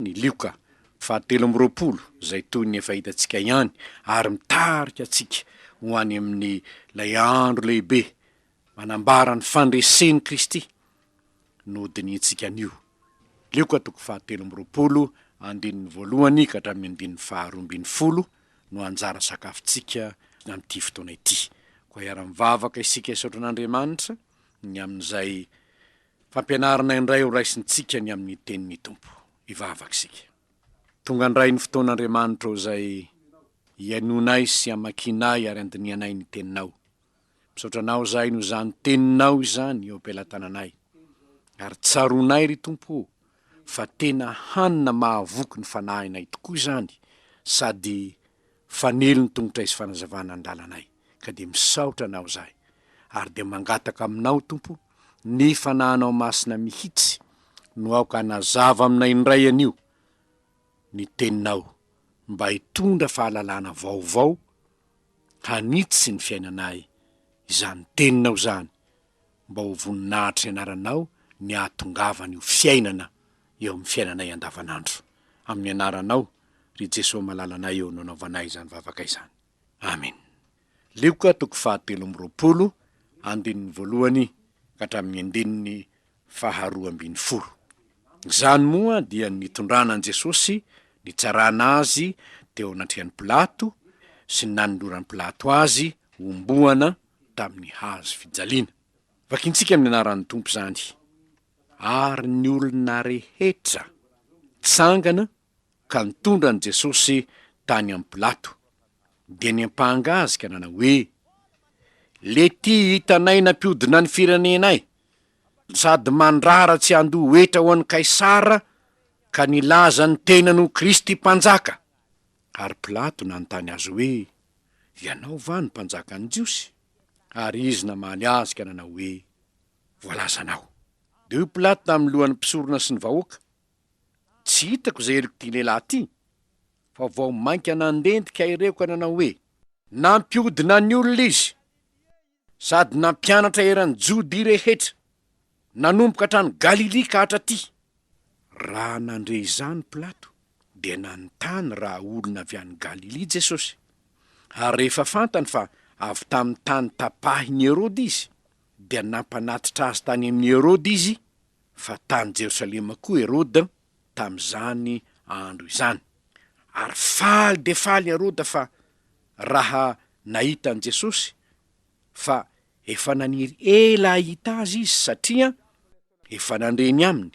ny lioka fahatelo amby roapolo izay toy ny efa hitantsika ihany ary mitarika antsika ho any amin' ilay andro lehibe manambara ny fandresen' i Kristy no hodinihintsika anio. Lioka toko fahatelo amby roapolo andininy voalohany ka hatramin' ny andininy faharoa ambin'ny folo no anjara sakafontsika amin' ity fotoana ity. Koa hiara-mivavaka isika hisaotra an' Andriamanitra ny amin' izay Fampianarana indray ho raisintsika ny amin'ny Tenin'ny Tompo. Hivavaka isika. Tonga indray ny fotoana Andriamanitra o izay iainoanay sy amakianay ary andinihanay ny Teninao. Misaotra Anao izahay noho izany Teninao izany eo am-pelatananay. Ary tsaroanay ry Tompo o, fa tena hanina mahavoky ny fanahinay tokoa izany sady Fanilo ny tongotray sy fanazavana ny lalanay, ka dia misaotra Anao zahay, ary dia mangataka Aminao, Tompo, ny Fanahinao Masina mihitsy no aoka hanazava aminay indray anio ny Teninao, mba hitondra fahalalana vaovao hanitsy ny fiainanay izany Teninao izany, mba ho voninahitry ny Anaranao ny hahatongavan'io fiainana eo amin'ny fiainanay andavanandro. Amin'ny Anaranao. ry Jeso malalanay eo nanaovanay izany vavaka izany. Amen. Lioka toko fahatelo amby roapolo, andininy voalohany ka hatramin'ny andininy faharoa ambin'ny folo. Izany moa dia ny nitondrana an'i Jesosy, nitsarana Azy teo anatrehan'i Pilato sy ny nanoloran'i Pilato Azy homboana tamin'ny hazo fijaliana. Vakintsika amin'ny anaran'ny Tompo izany. Ary ny olona rehetra tsangana ka nitondra an'i Jesosy tany amin'i Pilato. Dia niampanga Azy ka nanao hoe, Lety hitanay nampiodina ny firenenay, sady mandrara tsy handoa hetra ho an'i Kaisara ka nilaza ny tenany ho Kristy Mpanjaka. Ary Pilato nanontany Azy hoe, Ianao va no Mpanjakan'ny Jiosy? Ary Izy namaly azy ka nanao hoe, Voalazanao. Dia hoy Pilato tamin'ny lohan'ny mpisorona sy ny vahoaka, Tsy hitako izay heriko ity lehilahy ity fa vao mainka nandentika ireo ka nanao hoe. Nampihodina ny olona izy sady nampianatra eran'ny Jodia rehetra nanomboka hatrany Galilia ka hatraty. Raha nandre izany Pilato dia nanontany raha olona avy any Galilia Jesosy. Ary rehefa fantany fa avy tamin'ny tany tapahin'i Heroda izy dia nampanatitra azy tany amin'i Heroda izy fa tany Jerosalema koa Heroda tamin'izany andro izany. Ary faly dia faly Heroda fa raha nahita an'i Jesosy, fa efa naniry ela hahita azy izy satria efa nandre ny aminy,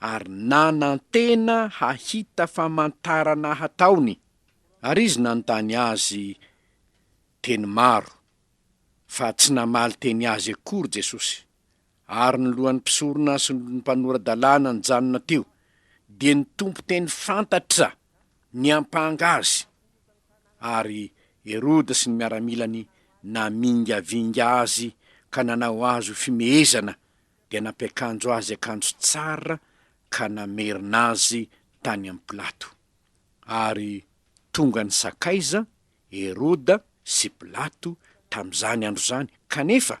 ary nanantena hahita famantarana hataony. Ary izy nanontany azy teny maro, fa tsy namaly teny azy akory Jesosy. ary ny lohan'ny mpisorona sy ny mpanora-dalàna nijanona teo, dia ny Tompo teny fantatra niampanga azy, ary Heroda sy ny miaramilany namingavinga azy ka nanao azy ho fimehezana, dia nampiakanjo azy akanjo tsara ka namerina azy tany amin'i Pilato. Ary tonga nisakaiza Heroda sy Pilato tamin'izany andro izany, kanefa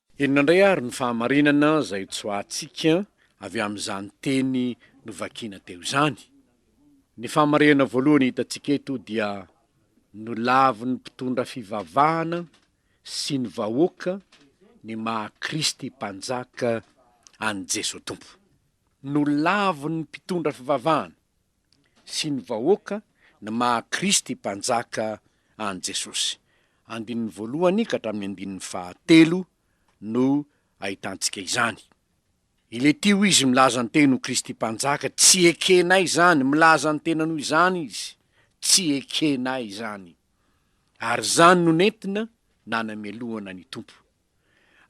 Inona indray ary ny fahamarinana izay tsoahantsika avy amin'izany teny novakiana teo izany? Ny fahamarinana voalohany hitantsika eto dia nolavin'ny mpitondra fivavahana sy ny vahoaka ny maha Kristy Mpanjaka an'i Jeso Tompo. Nolavin'ny mpitondra fivavahana. sy ny vahoaka ny maha Kristy Mpanjaka an'i Jesosy. Andininy voalohany ka hatramin'ny andininy fahatelo no ahitantsika izany. Iletio izy milaza ny teny ho Kristy Mpanjaka, tsy ekenay izany, milaza ny tenany ho izany izy, tsy ekenay izany. Ary izany no nentina nanamelohana ny Tompo.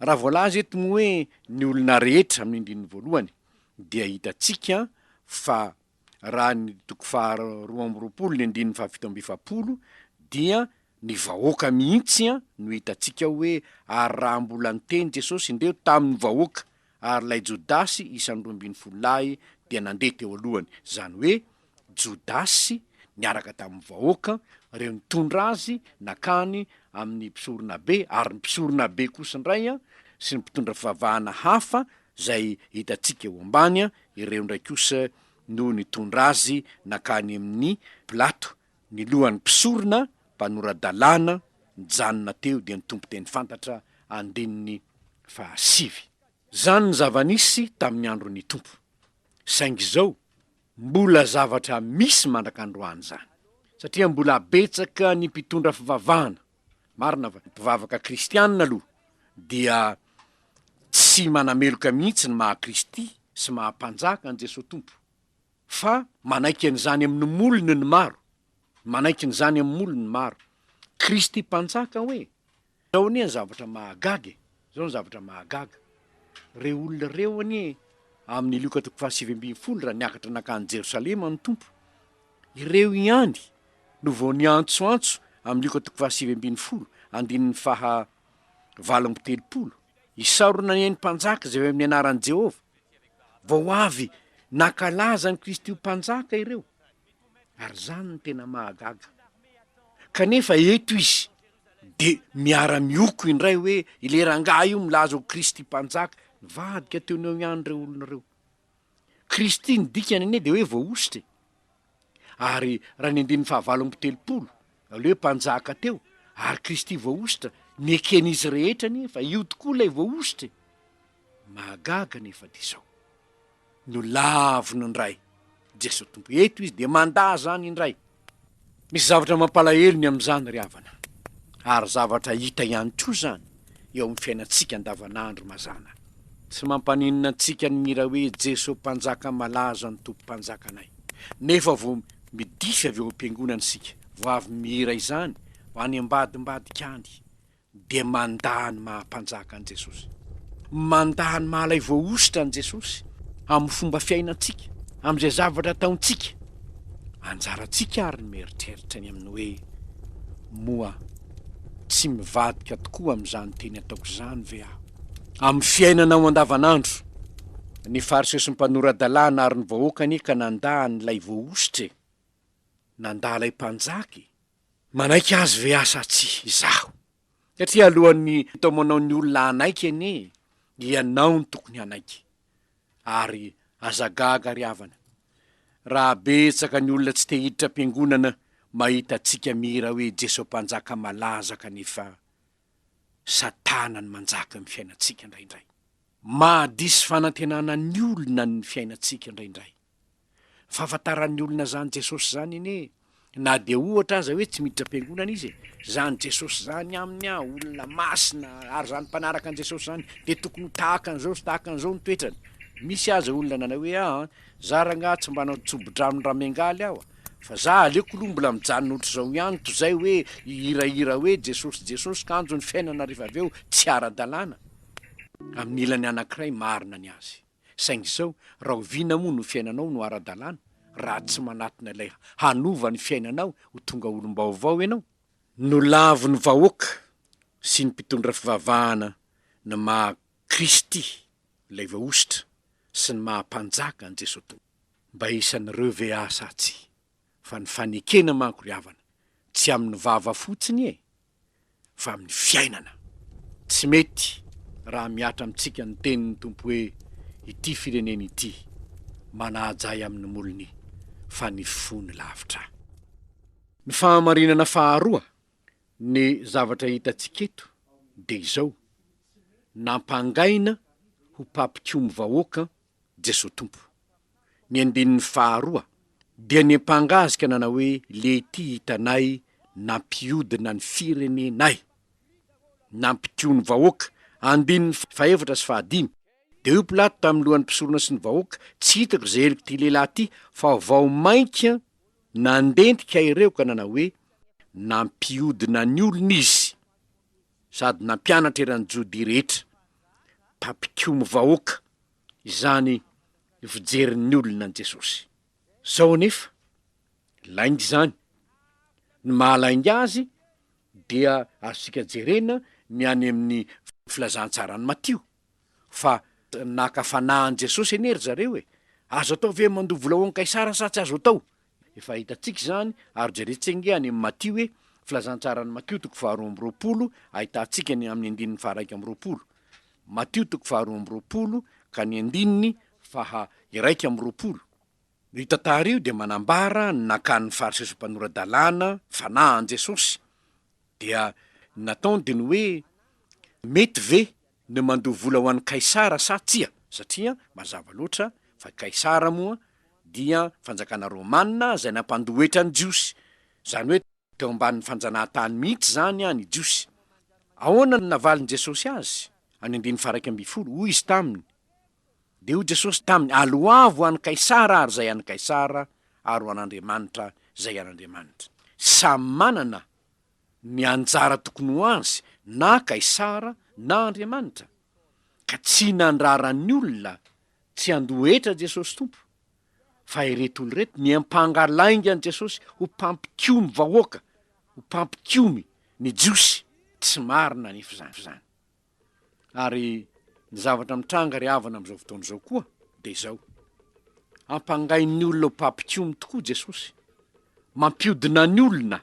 Raha voalaza eto ny hoe ny olona rehetra amin'ny andininy voalohany dia hitantsika fa raha ny toko faha roa amby roapolo ny andininy fahafito amby efapolo dia ny vahoaka mihitsy no hitantsika hoe ary raha mbola niteny Jesosy indreo tamin'ny vahoaka ary ilay Jodasy isan'ny roa ambin'ny folo lahy dia nandeha teo alohany izany hoe Jodasy niaraka tamin'ny vahoaka, ireo nitondra azy nankany amin'ny mpisoronabe, ary ny mpisoronabe kosa indray sy ny mpitondra fivavahana hafa izay hitantsika eo ambany, ireo indray kosa no nitondra azy nankany amin'i Pilato. Ny lohan'ny mpisorona mpanora-dalàna nijanona teo dia nitompo teny fantatra, andininy fahasivy. Izany ny zava-nisy tamin'ny andron'ny Tompo. Saingy izao Mbola zavatra misy mandraka androany izany, satria mbola betsaka ny mpitondra fivavahana, marina va? Mpivavaka kristiana aloha dia tsy manameloka mihitsy ny maha Kristy sy maha Mpanjaka an'i Jesoa Tompo, fa manaiky an'izany amin'ny molony ny maro, manaiky an'izany amin'ny molony ny maro. Kristy Mpanjaka hoe? Zao anie ny zavatra mahagaga e! Zao ny zavatra mahagaga, reo olona reo anie amin'ny Lioka toko faha sivy ambin'ny folo raha niakatra nankany Jerosalema ny Tompo, ireo ihany no vao niantsoantso amin'ny Lioka toko faha sivy ambin'ny folo andininy faha valo amby telopolo, Isaorana anie ny mpanjaka izay avy amin'ny anaran'i Jehovah, vao avy nankalaza an'i Kristy ho mpanjaka ireo. ary zany no tena mahagaga kanefa eto izy de miara mioko indray hoe ilay rangahy io milaza ho kristy mpanjaka nivadika teo no eo ihany ireo olona ireo kristy ny dikany anie de hoe voahosotra e ary raha ny andininy fahavalo amby telopolo aleo hoe mpanjaka teo ary kristy voahosotra ny eken'izy rehetra anie fa io tokoa ilay voahosotra e Mahagaga anefa dia izao, nolaviny indray Jesoa Tompo eto izy dia mandà izany indray. Misy zavatra mampalahelo ny amin'izany ry havana, ary zavatra hita ihany koa izany eo amin'ny fiainantsika andavanandro mazàna. Tsy mampaninona antsika ny mihira hoe Jesoa Mpanjaka malaza ny Tompo Mpanjakanay, nefa vao midify avy ao am-piangonana isika vao avy mihira izany ho any ambadimbadika any. dia mandà ny maha-Mpanjaka an'i Jesosy. Mandà ny mahalay voahosotra an'i Jesosy amin'ny fomba fiainantsika, amin'izay zavatra ataontsika. Anjarantsika àry ny mieritreritra ny amin'ny hoe, 'Moa tsy mivadika tokoa amin'izany teny ataoko izany ve aho? Amin'ny fiainanao andavanandro, ny Fariseo sy ny mpanora-dalàna ary ny vahoaka anie ka nandà an'ilay voahosotra e! Nandà ilay Mpanjaka e! Manaiky azy ve asa tsy izaho? Satria alohan'ny hitaomanao ny olona hanaiky anie ianao no tokony hanaiky. Ary aza gaga ry havana raha betsaka ny olona tsy te hiditra am-piangonana mahita antsika mihira hoe Jeso Mpanjaka malaza kanefa Satana no manjaka eo amin'ny fiainantsika indraindray. Mahadiso fanantenana ny olona ny fiainantsika indraindray. Fahafantaran'ny olona zany Jesosy zany anie e! Na dia ohatra aza hoe tsy miditra am-piangonana izy e, zany Jesosy zany aminy an, olona masina, ary zany mpanaraka an'i Jesosy zany dia tokony ho tahaka an'izao sy tahaka an'izao ny toetrany. Misy aza olona nanao hoe aa, za rangah tsy mba hanao tsobo-drano raha miangaly aho a! Fa za aleoko loha mbola mijanona ohatr'izao ihany tozay hoe hihirahira hoe Jesosy Jesosy kanjo ny fiainana rehefa avy eo tsy ara-dalàna. Amin'ny ilany anankiray marina ny azy. Saingy izao, rahoviana moa no fiainanao no ara-dalàna raha tsy manatona ilay hanova ny fiainanao ho tonga olom-baovao ianao? Nolavin'ny vahoaka sy ny mpitondra fivavahana ny maha Kristy ilay Voahosotra sy ny maha Mpanjaka an'i Jesoa Tompo. Mba hisan'ireo ve aho sa tsia? Fa ny fanekena manko ry havana, tsy amin'ny vava fotsiny e! fa amin'ny fiainana. Tsy mety raha mihatra amintsika ny tenin'ny Tompo hoe ity firenena ity manaja ahy amin'ny molony fa ny fony lavitra. Ny fahamarinana faharoa ny zavatra hitantsika eto dia izao, nampangaina ho mpampikomy vahoaka Jesoa Tompo. Ny andininy faharoa dia ny mpangasika nanao hoe lety hitanay nampiodina ny firenenay, nampitio ny vahoaka, andininy fahefatra sy fahadimy, dia hoy Pilato tamin'ny lohan'ny mpisorona sy ny vahoaka, tsy hitako izay heloka ity lehilahy ity, fa vao mainka nandentika ireo ka nanao hoe, nampiodina ny olona izy. sady nampianatra eran'ny Jodia rehetra, mpampikomy vahoaka izany fijerin'ny olona an'i Jesosy. Izao anefa, lainga izany. Ny mahalainga azy dia azontsika jerena ny any amin'ny Filazantsaran'i Matio. fa naka fanahy an'i Jesosy anie ry zareo e! Azo atao ve ny mandoa vola ho an'i Kaisara sa tsy azo atao? Efa hitantsika izany, ary jerentsika ange any amin'ny Matio e, Filazantsaran'i Matio toko faharoa amby roapolo, ahitantsika ny amin'ny andininy faharaika amby roapolo. Matio toko faharoa amby roapolo ka ny andininy faha iraika amby roapolo. Io tantara io dia manambara ny nakan'ny Fariseo sy Mpanora-dalàna fanahy an'i Jesosy. Dia ny nataony dia ny hoe, Mety ve ny mandoa vola ho an'i Kaisara sa tsia, satria mazava loatra fa Kaisara moa dia fanjakana Romana izay nampandohetra ny Jiosy, izany hoe teo ambanin'ny fanjanahantany mihitsy izany ny Jiosy. Ahoana no navalin'i Jesosy azy? Any andininy faha iraika ambin'ny folo, hoy Izy taminy, Dia hoy Jesosy taminy, Aloavo an'i Kaisara ary izay an'i Kaisara, ary ho an'Andriamanitra izay an'Andriamanitra. Samy manana ny anjara tokony ho azy na Kaisara na Andriamanitra, ka tsy nandrara ny olona tsy handoa hetra Jesosy Tompo, fa ireto olona ireto niampanga lainga an'i Jesosy ho mpampikomy vahoaka, ho mpampikomy ny Jiosy tsy marina anefa izany. Ary ny zavatra mitranga ry havana amin'izao fotoana izao koa dia izao, ampangain'ny olona ho mpampikomy tokoa Jesosy, mampiodina ny olona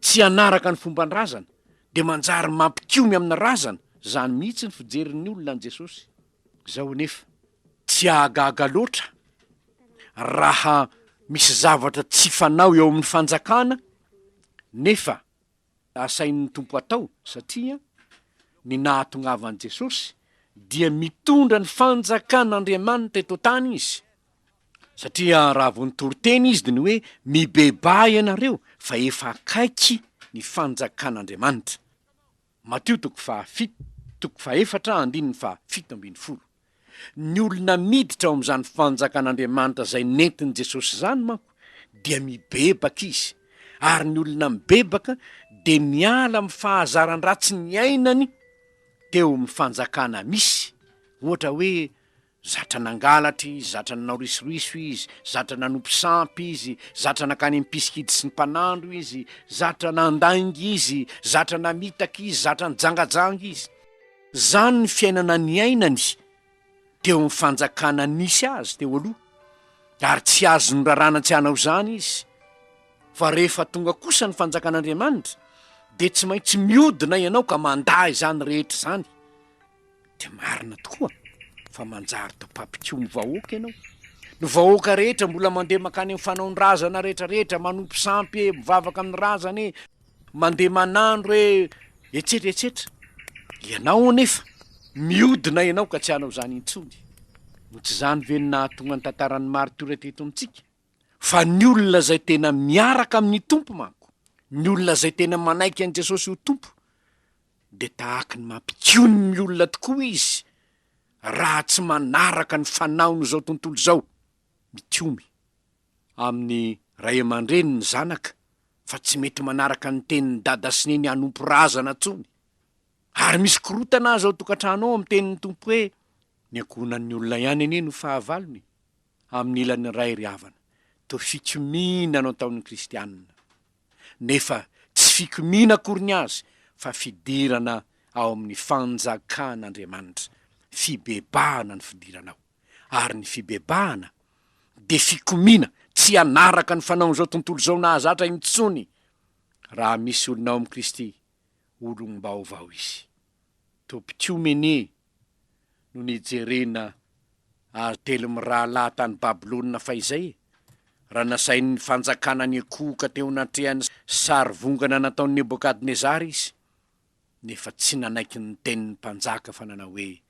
tsy hanaraka ny fomban-drazana, dia manjary mampikomy amin'ny razana, izany mihitsy ny fijerin'ny olona an'i Jesosy izao anefa. Tsy hahagaga loatra raha misy zavatra tsy fanao eo amin'ny fanjakana nefa. asain'ny Tompo atao satria ny nahatongavan'i Jesosy dia mitondra ny fanjakan'Andriamanitra eto an-tany izy satria raha vao nitory teny izy dia ny hoe mibebaha ianareo fa efa akaiky ny fanjakan'Andriamanitra, Matio toko faha fito toko fahefatra andininy faha fito ambin'ny folo. Ny olona miditra ao amin'izany fanjakan'Andriamanitra izay nentin'i Jesosy izany manko dia mibebaka izy, ary ny olona mibebaka dia miala amin'ny fahazaran-dratsy niainany teo amin'ny fanjakana misy, ohatra hoe zatra nangalatra izy, zatra nanao risoriso izy, zatra nanompo sampy izy, zatra nankany am-pisikidy sy ny mpanandro izy, zatra nandainga izy, zatra namitaka izy, zatra nijangajanga izy. Izany ny fiainana niainany teo amin'ny fanjakana nisy azy teo aloha, ary tsy azon'ny raràna tsy hanao izany izy. Fa rehefa tonga kosa ny Fanjakan'Andriamanitra, dia tsy maintsy miodina ianao ka mandà izany rehetra izany. Dia marina tokoa fa manjary dopapikomy vahoaka ianao. Ny vahoaka rehetra mbola mandeha mankany amin'ny fanaon-drazana rehetrarehetra, manompo sampy e, mivavaka amin'ny razana e, Mandeha manandro hoe etsetra etsetra ianao anefa miodina ianao ka tsy hanao izany intsony. No tsy izany ve no nahatonga ny tantaran'ny maritiora teto amintsika? Fa ny olona izay tena miaraka amin'ny Tompo manko, ny olona izay tena manaiky an'i Jesosy ho Tompo, dia tahaky ny mampikony ny olona tokoa izy raha tsy manaraka ny fanaon'izao tontolo izao, mikomy. amin'ny ray aman-dreny ny zanaka fa tsy mety manaraka ny tenin'ny dada sy neny hanompo razana intsony. Ary misy korotana aza ao tokantrano ao amin'ny tenin'ny Tompo hoe, Ny ankohonan'ny olona ihany anie no fahavalony. Amin'ny ilany iray ry havana, toa fikomiana no ataon'ny kristianina. Nefa tsy fikomiana akory ny azy fa fidirana ao amin'ny fanjakan'Andriamanitra. Fibebahana ny fidiranao. ary ny fibebahana dia fikomiana tsy hanaraka ny fanaon'izao tontolo izao nahazatra intsony raha misy olona ao amin'i Kristy, olom-baovao izy. Tobim-piomene no nijerena azy telo mirahalahy tany Babylona fahizay e! raha nasain'ny fanjakana niankohoka teo anatrehan'ny sarivongana nataon'i Nebokadnezara izy. nefa tsy nanaiky ny tenin'ny mpanjaka fa nanao hoe,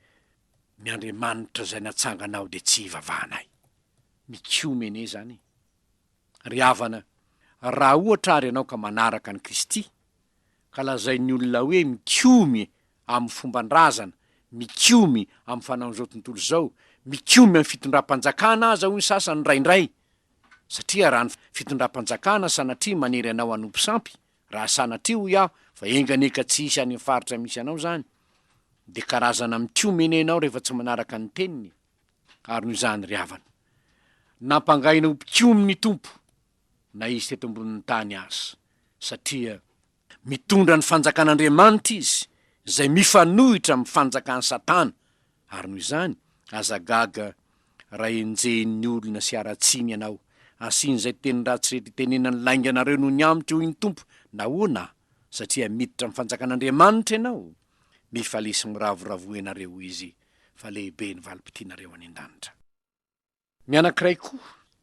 Ny Andriamanitra izay natsangana aho dia tsy hivavahanay. Mikomy anie izany e! Ry havana, raha ohatra àry ianao ka manaraka an'i Kristy, ka lazain'ny olona hoe mikomy amin'ny fomban-drazana, mikomy amin'ny fanaon'izao tontolo izao, mikomy amin'ny fitondram-panjakana aza hoy ny sasany indraindray, satria raha ny fitondram-panjakana sanatria manery anao hanompo sampy, Raha sanatria hoy aho fa enganeka tsy hisy any amin'ny faritra misy anao izany dia karazana mitiomena ianao rehefa tsy manaraka ny teniny ary noho izany ry havana nampangahina ho mpikomy ny Tompo na izy teto ambonin'ny tany aza satria mitondra ny fanjakan'Andriamanitra izy izay mifanohitra amin'ny fanjakan'i Satana Ary noho izany, aza gaga raha enjehin'ny olona sy haratsiany ianao. Asian'izay teny ratsy rehetra itenenan'ny lainga anareo noho ny amiko, hoy ny Tompo. Nahoana? Satria miditra amin'ny fanjakan'Andriamanitra ianao. Mifalesy miravoravoa ianareo, hoy Izy, fa lehibe ny valim-potianareo any an-danitra. Ny anankiray koa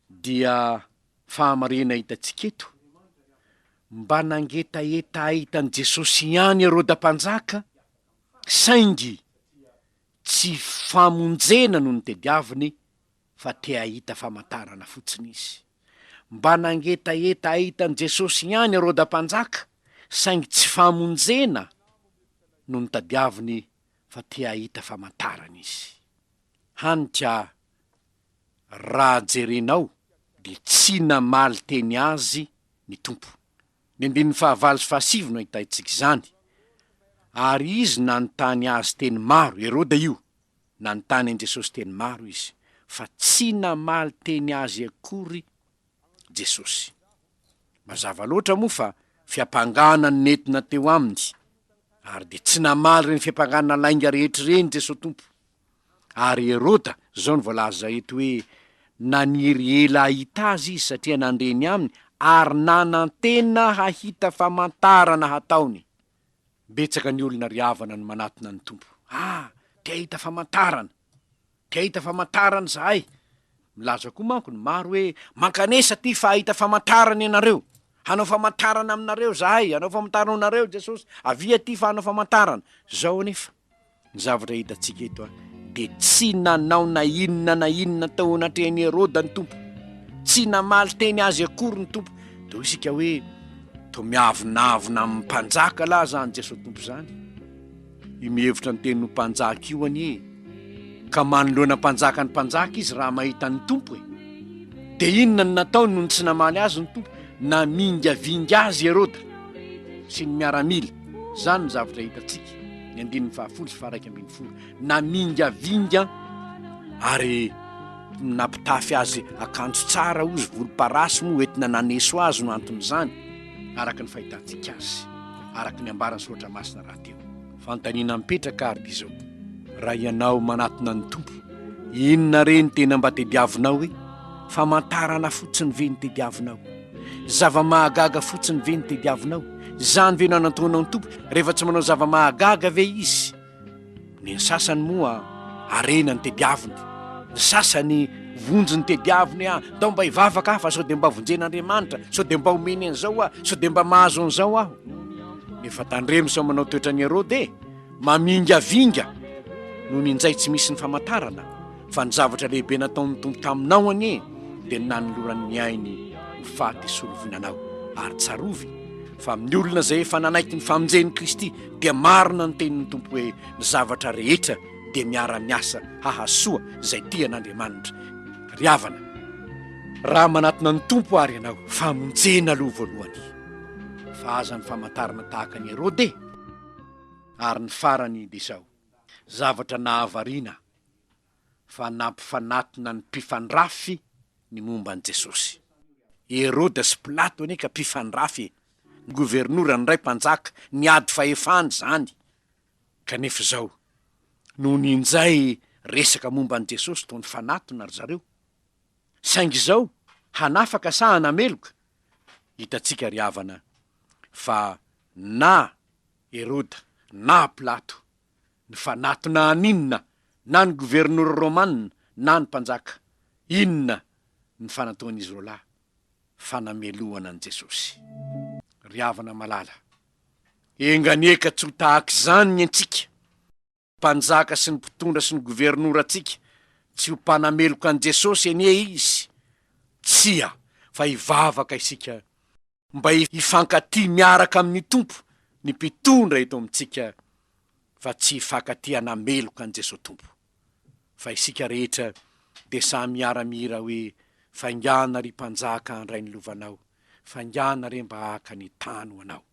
dia fahamarinana hitantsika eto, mba nangetaheta hahita an'i Jesosy ihany Heroda Mpanjaka, saingy tsy famonjena no nitediaviny fa te hahita famantarana fotsiny izy. Mba nangetaheta hahita an'i Jesosy ihany Heroda Mpanjaka, saingy tsy famonjena no nitadiaviny fa te hahita famantarana izy. Hanitra ah. Raha jerenao dia tsy namaly teny azy ny Tompo. Ny andininy fahavalo sy fahasivy no ahitantsika izany, Ary izy nanontany azy teny maro, Heroda io, nanontany an'i Jesosy teny maro izy, fa tsy namaly teny azy akory Jesosy. Mazava loatra moa fa fiampangana no nentina teo Aminy, ary dia tsy namaly ireny fiampangana lainga rehetra ireny Jesosy Tompo. Ary Heroda, izao no voalaza eto hoe, Naniry ela hahita Azy izy satria nandre ny Aminy ary nanantena hahita famantarana hataony. Betsaka ny olona ry havana no manatona ny Tompo. Ah! Te hahita famantarana. Te hahita famantarana izahay. Milaza koa manko ny maro hoe, Mankanesa aty fa hahita famantarana ianareo. Hanao famantarana aminareo izahay, hanao famantarana anareo Jesosy. Avia aty fa hanao famantarana. Izao anefa ny zavatra hitantsika eto, dia tsy nanao na inona na inona tao anatrehan'i Heroda ny Tompo. Tsy namaly teny azy akory ny Tompo. Dia hoy isika hoe, Toa miavonavona amin'ny mpanjaka lahy izany Jesosy Tompo izany. Io mihevitra ny teniny ho mpanjaka io anie ka manoloana mpanjaka ny mpanjaka izy raha mahita ny Tompo e! Dia inona no nataony nony tsy namaly azy ny Tompo? Namingavinga azy i Heroda sy ny miaramila. Izany no zavatra hitantsika ny andininy fahafolo sy faharaika ambin'ny folo. Namingavinga ary nampitafy azy akanjo tsara ozy volomparasy moa entina naneso azy no anton'izany. araka ny fahitantsika azy, araka ny ambaran'ny soratra masina rahateo. Fanontaniana mipetraka ary dia izao, raha ianao manatona ny Tompo, inona re ny tena mba tediavinao e? Famantarana fotsiny ve ny tediavinao? Zava-mahagaga fotsiny ve ny tediavinao? Izany ve no anantonao ny Tompo? Rehefa tsy manao zava-mahagaga ve Izy? Ny sasany moa harena ny tediaviny, ny sasany vonjy ny tediaviny ah, ndao mba hivavaka aho fa sao dia mba vonjen'Andriamanitra, sao dia mba omeny an'izao aho, sao dia mba mahazo an'izao aho. Nefa tandremo sao manao toetran'i Herode e, mamingavinga noho ny njay tsy misy ny famantarana, fa ny zavatra lehibe nataon'ny Tompo taminao anie dia ny nanolorany ny ainy ho faty hisolo vinanao, ary tsarovy fa amin'ny olona izay efa nanaiky ny famonjen'i Kristy, dia marina ny tenin'ny Tompo hoe ny zavatra rehetra dia miara-miasa hahasoa izay tia an'Andriamanitra. Ry havana, raha manatona ny Tompo ary ianao, famonjena aloha voalohany, fa aza ny famantarana tahaka an'i Herode e! Ary ny farany dia izao, zavatra nahavariana, fa nampifanatona ny mpifandrafy ny momba an'i Jesosy. I Heroda sy Pilato anie ka mpifandrafy ny governora ny ray mpanjaka niady fahefana izany, kanefa izao nony injay resaka momba an'i Jesosy toa nifanatona ry zareo. Saingy izao hanafaka sa hanameloka? Hitantsika ry havana fa na Heroda na Pilato Nifanatona an'inona na ny governora romana na ny mpanjaka? Inona ny fanatoan'izy roalahy? Fanamelohana an'i Jesosy. Ry havana malala, enganieka tsy ho tahak'izany ny antsika. Mpanjaka sy ny mpitondra sy ny governorantsika tsy ho mpanameloka an'i Jesosy anie izy. Tsia, fa hivavaka isika mba hifankatia miaraka amin'ny Tompo ny mpitondra eto amintsika fa tsy hifankatia hanameloka an'i Jesoa Tompo. Fa isika rehetra dia samy miara-mihira hoe, Faingàna ry Mpanjaka handray ny lovanao, faingàna re mba haka ny tany ho anao.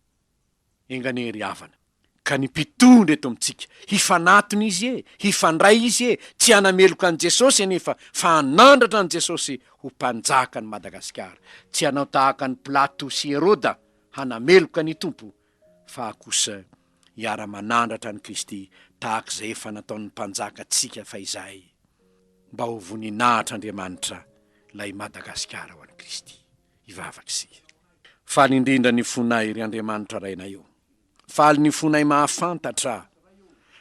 Enganie ry havana ka ny mpitondra eto amintsika hifanatona izy e! hifandray izy e! tsy hanameloka an'i Jesosy anefa fa hanandratra an'i Jesosy ho mpanjaka an'i Madagasikara! tsy hanao tahaka an'i Pilato sy Heroda hanameloka ny Tompo fa kosa hiara-manandratra an'i Kristy tahaka izay efa nataon'ny mpanjaka tsika fahizay mba ho voninahitr'Andriamanitra ilay Madagasikara ho an'i Kristy! hivavaka isika. Faly indrindra ny fonay, ry Andriamanitra Rainay ô! Faly ny fonay mahafantatra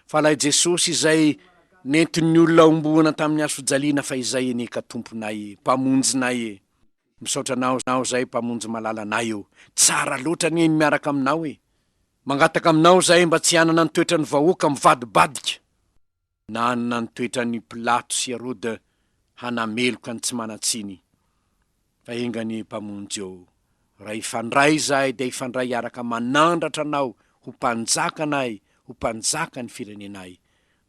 fa ilay Jesosy izay nentin'ny olona homboana tamin'ny hasojaliana fa izay anie ka Tomponay e, Mpamonjinay e! Misaotra Anao aho izay Mpamonjy malala anay ô! Tsara loatra anie ny miaraka Aminao e! Mangataka Aminao izahay mba tsy hanana ny toetran'ny vahoaka mivadibadika. Nanana ny toetran' i Pilato sy Heroda hanameloka ny tsy manan-tsiny. Fa enga anie, Mpamonjy ô, raha hifandray izahay dia hifandray hiaraka manandratra Anao ho Mpanjakanay, ho Mpanjakan' ny firenenay.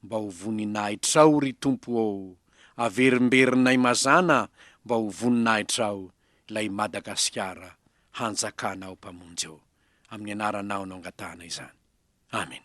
Mba ho voninahitrao, ry Tompo ô! Averimberinay mazàna mba ho voninahitrao ilay Madagasikara hanjakanao, Mpamonjy ô! Amin' ny Anaranao no angatahana izany. Amena.